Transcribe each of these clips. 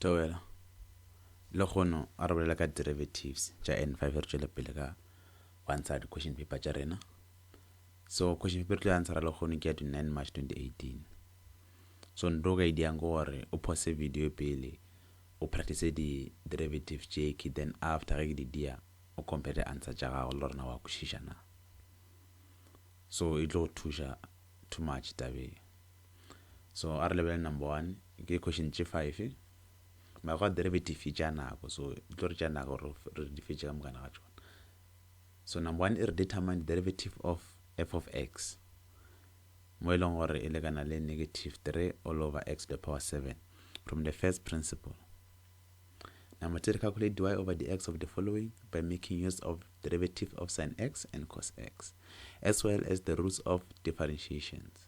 Theogela, Lekgono a re bolela ka derivatives tša N five re tšwele pele ka go ansara di-question paper tša rena. So question paper re tlo ansara Lekgono ke ya di nine March twenty eighteen. So nto ka e diyang ke gore o pause video pele o practice di-derivative tše ke then after ge ke di diya o compare di-answer tša gago le rena wa kwešiša na. So e tlo go thuša too much tabeng. so a re lebelele number one ke question tše five mara gwa derivative e tšea nako so di tlo re tšea nako gore re di fetše ka mokana ga tšona so number one e re determine derivative of f of x mo e leng gore e lekana le negative 3 all over x to the power 7 from the first principle number two re calculate dy over dx of the following by making use of derivative of sin x and cos x as well as the roots of differentiations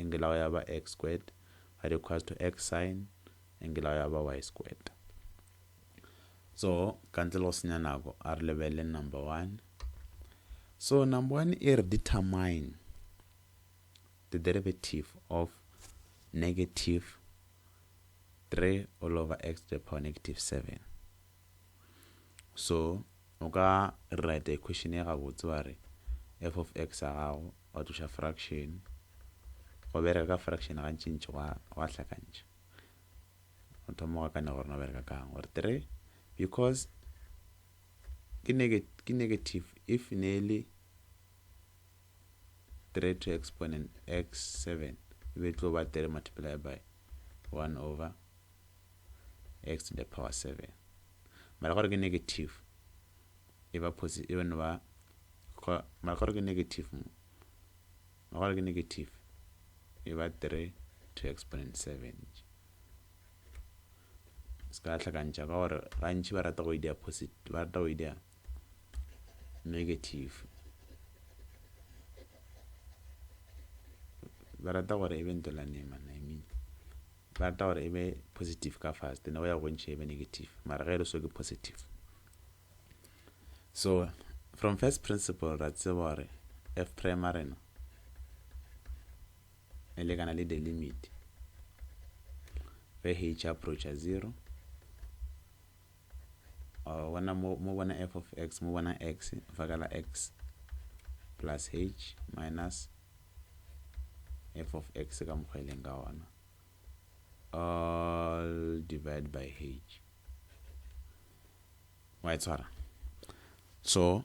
angle ya go ya ba x squared ga di equals to x sine angle ya go ya ba y squared so ka ntle le go senya nako a re lebelele number one so number one e re determine the derivative of negative 3 all over x to the power negative 7 so o ka write equation ye gabotse wa re f of x ya gago wa tloša fraction go bereka ka fraction gantšintši gwa hlakantšha o thoma go akanya gore no bereka kang gore 3 because ke negative if ne e le 3 to exponent x 7 e be e tlo ba 3 multiply by 1 over x to the power 7 mara gore ke negative e ba positive e no ba mara gore ke negative mo mara gore ke negative e ba 3 to exponent 7 se ka hlakantšha ka gore gantši ba rata go idea positive ba rata go idea negative ba rata gore e be ntolwane mana i mean rata gore e be positive ka fast ne go ya go ntšhe e be negative mara ge e le so ke positive so from first principle ra tseba gore f prime a rena e lekana le the limit ge h approacha zero mo bona f of x mo bona x fa ka la x plus h minus f of x ka mokgwa e leng ka wona all divided by h wa e tshwara so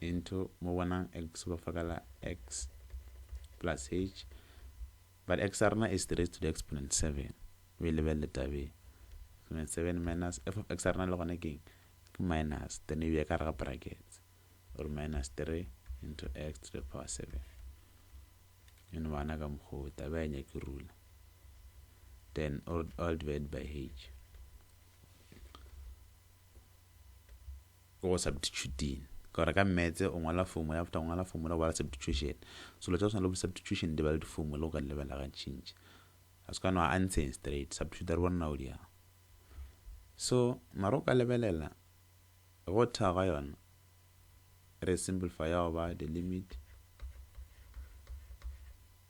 into mo bona x ba fa ka la x plus h but x ya rena e is raised to the exponent 7 o e lebelele taba ye exponent 7 minus f of x ya rena le gona ke eng ke minus then e beya ka gare ga brackets o re minus 3 into x to the power 7 e no bana ka mokgwa wo taba ya nyake rula then all divided by h Ke go subtituting. Ke gore ka mmetse o ngwala formula, after o ngwala formula o bala subtitution. Selo tša go swana le bo subtitution di ba le di-formula o ka di lebella ga change. A se ka no answering straight. Subtituta re bone na o di yang. So, mara o ka lebelela go tha ga yona re simplify ya go ba the limit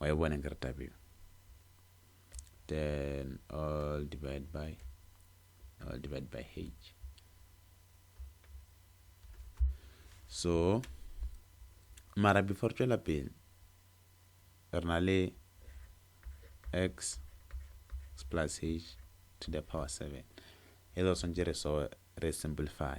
wa e bona ke re taba eo then all divide by all divide by h so mara before tšwela pele re na le x plus h to the power 7 e lo swantse re so re simplify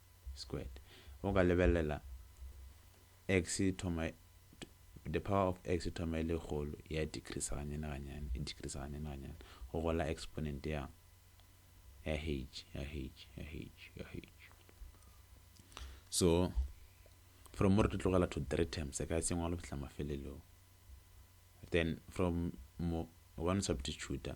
squared o ka lebelela x e thoma the power of x e thoma e le kgolo ya decreaser gannyane gannyane e decreaser gannyane gannyane go go la exponent ya ya h ya h ya h ya h so from mo re tlo tlogela to three terms e ka e sengwalo fihla mafelelong then from mo o ka no substituta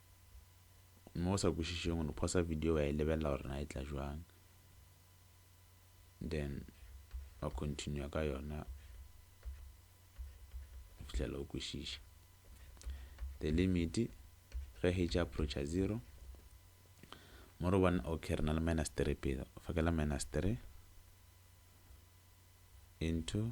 gomme o sa kwešišeng o no phosa video wa e lebelela gore na e tla bjang then wa continua ka yona go fihlela o kwešiša the limit ge h approacha 0 mo re bona ok re na le minus 3 pele fakela minus 3 into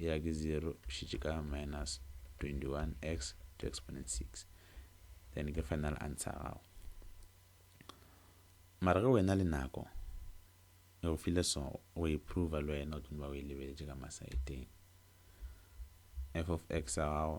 Eya ke 0 šetše ka minus 21x to exponent 6 then ke final answer ya gago mara ge wena le nako e go file so go e prover le wena o tlo ba o e lebeletše ka masaeteng f of x ya gago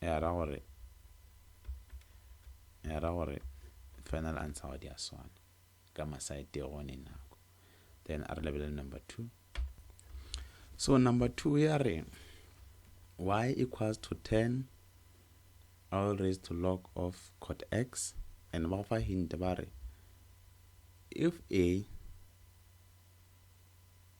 ya ra gore ya ra gore final answer ga di a swana ka masa e tee gone nako then a re lebelele number two so number two ya re y equals to 10 all raised to log of cot x and ba go fa hint ba re if a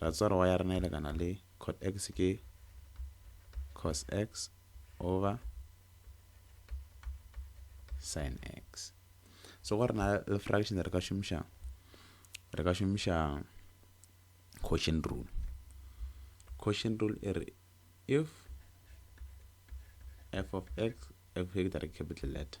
Ra tseba gore y ya rena e lekana le cot x ke cos x over sin x. So gore na le fraction re ka šomiša re ka šomiša quotient rule. Quotient rule e re if f of x f ke capital letter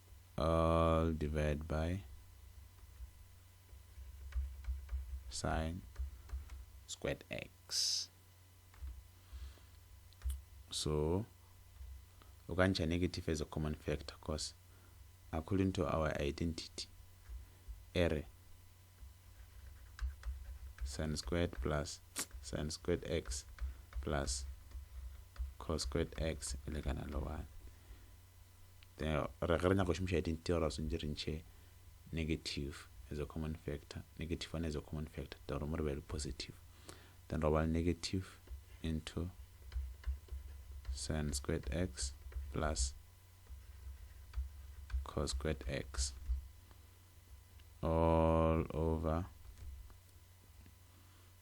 all divide by sine squared x so o ka ntšha negative as a common factor cause according to our identity ere sine squared plus sine squared x plus cos squared x e lekana le 1 re ge re nyaka go šomiša identity gore re swantse re ntšhe negative as a common factor negative one as a common factor then re mo re be le positive then re bala negative into sin squared x plus cos squared x all over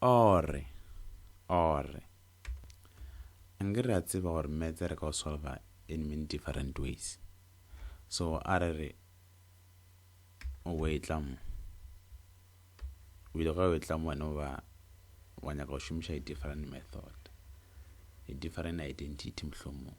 Orre, orre. A nke re a tseba gore metse re ka o solva in many different ways. So a re re, o bo etla mo. O ile ga o etla mo wena o ba, wa nyaka go šomiša a different method, a different identity mohlomong.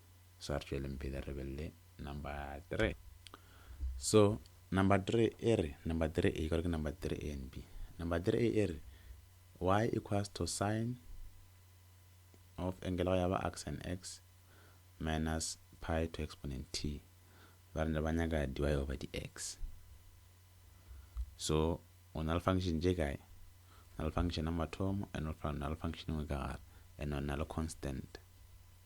so re tšweleng pele re be le number three so number three e re number three a kore ke number three a and b number three e re y equals to sine of angle go ya ba x and x minus pi to exponent t ba re ba nyaka dy over dx so o na le function je kae na le function ya mathomo and o na le function nngwe ka gare and o na le constant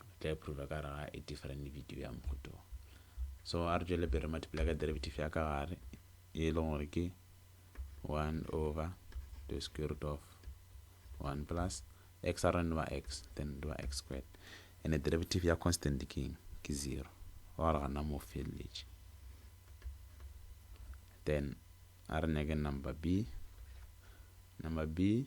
o tla iphurola ka gare ga a different video ya mohuto so a re tšwele pele re multiply ka derivative ya ka gare e leng gore ke 1 over the square root of 1 plus x a re nwa x then nwa x squared and the derivative ya constant ke ke 0 wa gore gana mo feleletše then a re nyake number b number b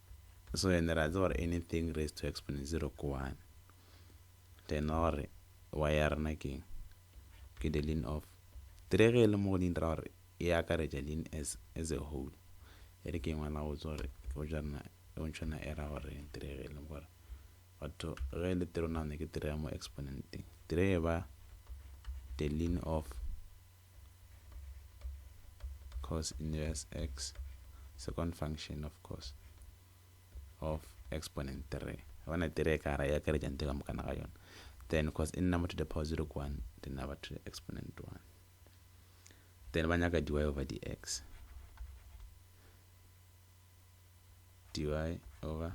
so ene re a tseba gore anything raised to exponent 0 ke 1 then ra gore y ya rena ke eng ke the ln of 3 ge e le mo godimo ra gore e akaretša ln as a whole e re ke e ngwala go tšwa gore potšo ya rena e bontšhana e ra gore 3 ge e le gore batho ge e le 3 o nagana ke 3 ya mo exponenteng 3 e ba the ln of cos inverse x second function of cos of exponent 3 bona 3 e ka ra e akaretša ntho ka moka ga yona then cos e number to the power 0 ke 1 the number to the exponent 1 then ba nyaka dy over dx dy over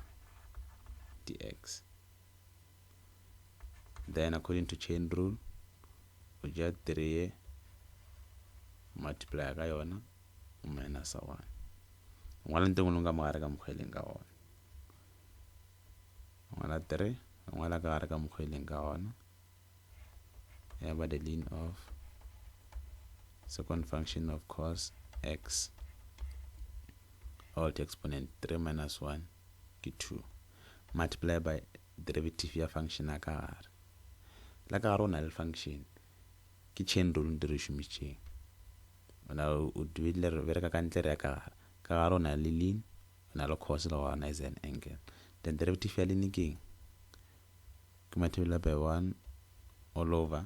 dx then according to chain rule o ja 3 o multiply ka yona o minusa 1 o ngwala ntho engwe ka mogare ka mokgwa e leng ka gona o ngwala 3 o ngwala ka gare ka mokgwa e leng ka gona ya ba the lean of second function of cos x all to exponent 3 minus 1 ke 2 multiply by derivative ya function ya ka gare la ka gare o na le function ke chain rule nte re šomišitšeng o na o dibile re bereka ka ntle re ya ka gare ka gare o na le lin o na le cos le gona is an angle then derivative ya lin ke ke multiply by 1 all over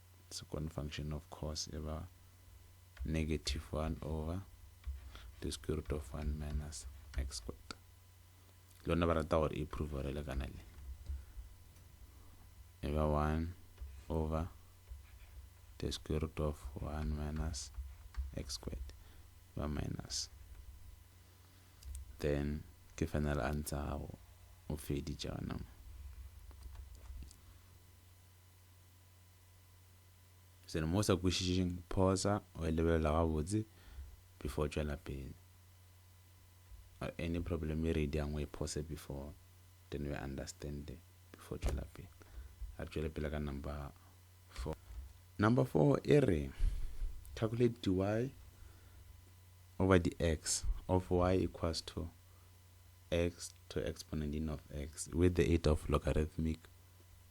second function of cos e ba negative 1 over the square root of 1 minus x squared lona ba rata gore e prove gore le kana le e ba 1 over the square root of 1 minus x squared ba minus then ke final answer gago o feditše gona mo selo mo o sa kwešišeng phosa o e lebelele gabotse before o tšwela pele any problem e ready yang o e phose before then o e understande before o tšwela pele a re tšwele pele ka number 4 number 4 e re calculate dy over dx of y equals to x to exponent in of x with the aid of logarithmic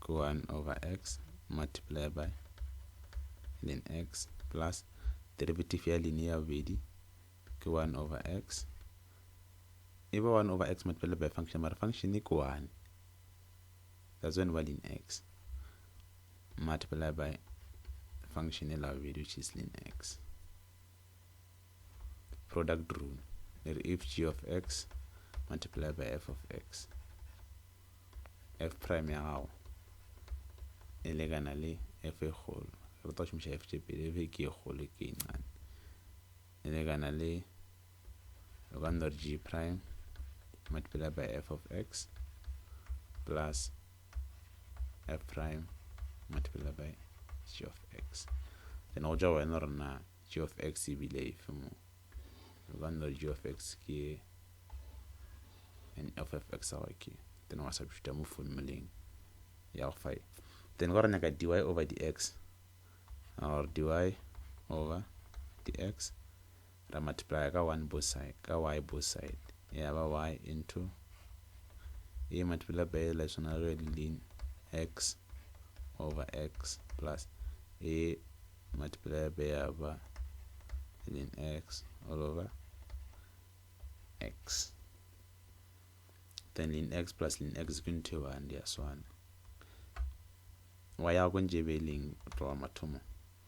ke 1 over x multiply by ln x plus derivative ya line ya bobedi ke 1 over x e ba 1 over x multiplied by function mara function ke 1 that's when value in x multiplied by function e la bobedi which is ln x product rule e re if g of x multiplied by f of x f prime ya gago e lekana le f e kgolo re tlo šomiša f tše pedi f ke e kgolo f ke e nnyane e lekana le o ka no re g prime multiplied by f of x plus a prime multiplied by g of x then go tšwa go wena gore na g of x e bile efe mo re ka nna g of x ke an f of x awa ke then wa substituta mo formuleng ya go five then ka re nyaka dy over dx or dy over dx Ra multiplya ka one both side, ka y both side. Ya ba y into e multiplya by e la tshwana le ge lin x over x plus e multiplya by ya ba lin x all over x. Then lin x plus lin x ke ntho e bane di a swana. Wa ya go ntše be leng tloga mathomo.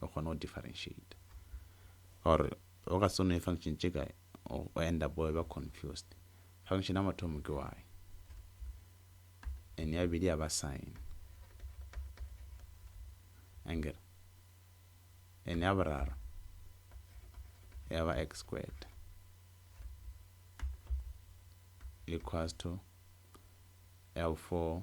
o kgone go differentiate or o ka se nwe function tše kae o end up o ba confused function ya mathomo ke y and ya bedi ya ba sign anger and ya boraro ya ba x squared equals to ya 4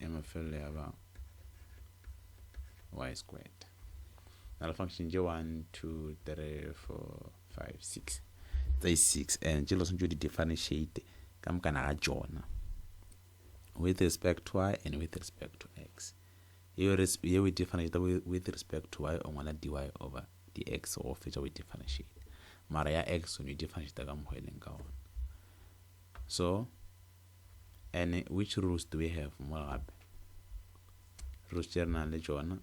ya mafelelo ya ba y squared na le function tše 1 2 3 4 5 6 tse 6 and tše lo swantšo di differentiate ka mokana ga tšona with respect to y and with respect to x yeo e differentiate with respect to y o ngwala dy over dx go fetša go differentiate mara ya x o ne differentiate ka mohweleng ka ona so and which rules do we have mo gape rules tše re nang le tšona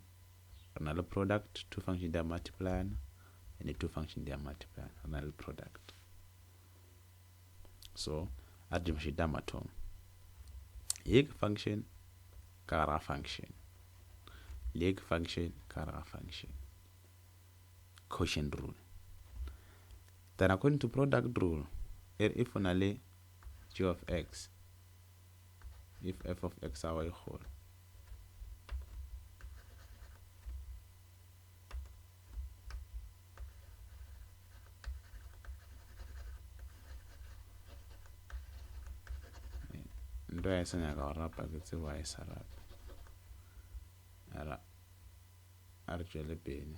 re na le product two function di a multiplyana and two function di a multiplyana re na le product so a re dimašo di a mathomo ye ke function ka gara function le ye ke function ka gara function quotient rule Then according to product rule, e re if o na le g of x, if f of x ago e kgolo, nto ya e sa nyaka go rapa ke tsebo a e sa rapa a re tšwele pele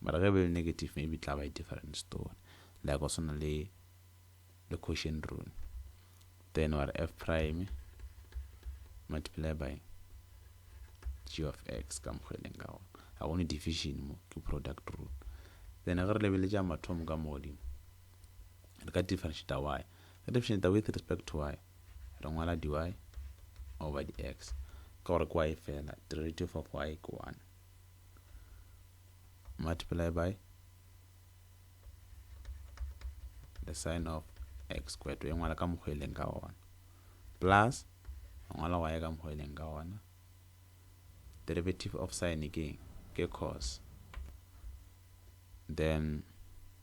Mara ge e be le negative maybe e tla ba a different story. Like go swana le le quotient rule. Then wa re f prime multiply by g of x ka mokgwa e leng ka gona. Ga gone division mo ke product rule. Then ge re lebeletša mathomo ka mo godimo re ka differentiate y. Re differentiate with respect to y re ngwala dy over dx ka gore kwa e fela derivative of y ke 1. multiply by the sign of x squared e ngwala ka mokgwa e leng ka ona plus e ngwala wa e ka mokgwa e leng ka ona derivative of sign ke ke cos then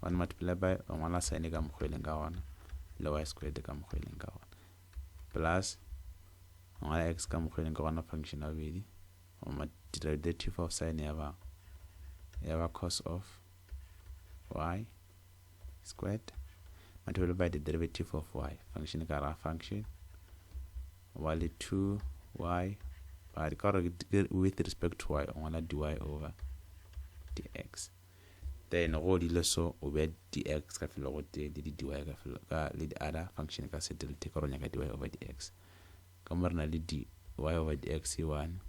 one multiply by o ngwala sine ka mokgwa e leng ka gona le y squared ka mokgwa e leng ka gona plus o ngwala x ka mokgwa e leng ka gona function ya bobedi o ma derivative of sine ya ba ya ba cos of y squared multiply by the derivative of y function ka ra function wa le 2y ba re ka gore with respect to y o ngwala dy over dx Then go dilo so o be dx ka felo go tee le di dy ka felo ka le di other function ka se delete ka ronya ka dy over dx ka mo rena le dy over dx e one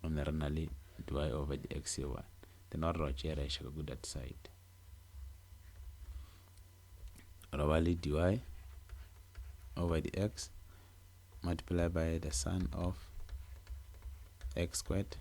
o ne rena le dy over dx e one then wa re wa tšea ra iša ka that side ra ba le dy over dx multiply by the sum of x squared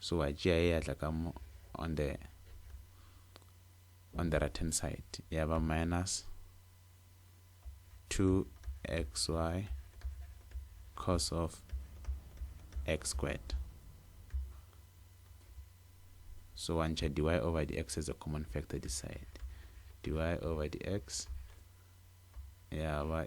so wa tšea e atla ka mo on the on the right hand side ya ba minus 2xy cos of x squared so wa ntšha dy over dx as a common factor this side dy over dx ya ba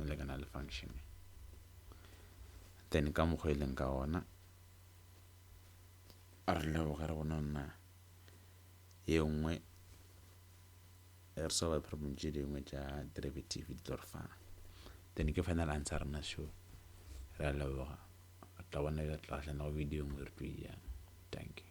e lekana le function then ka mokgwa e leng ka ona re leboge re bona nna ye nngwe re solve problem tše dingwe tša derivative di tlo re fa then ke final answer rena sho re a leboga re tla bona re tla gahlana go video nngwe re tlo e yang thank you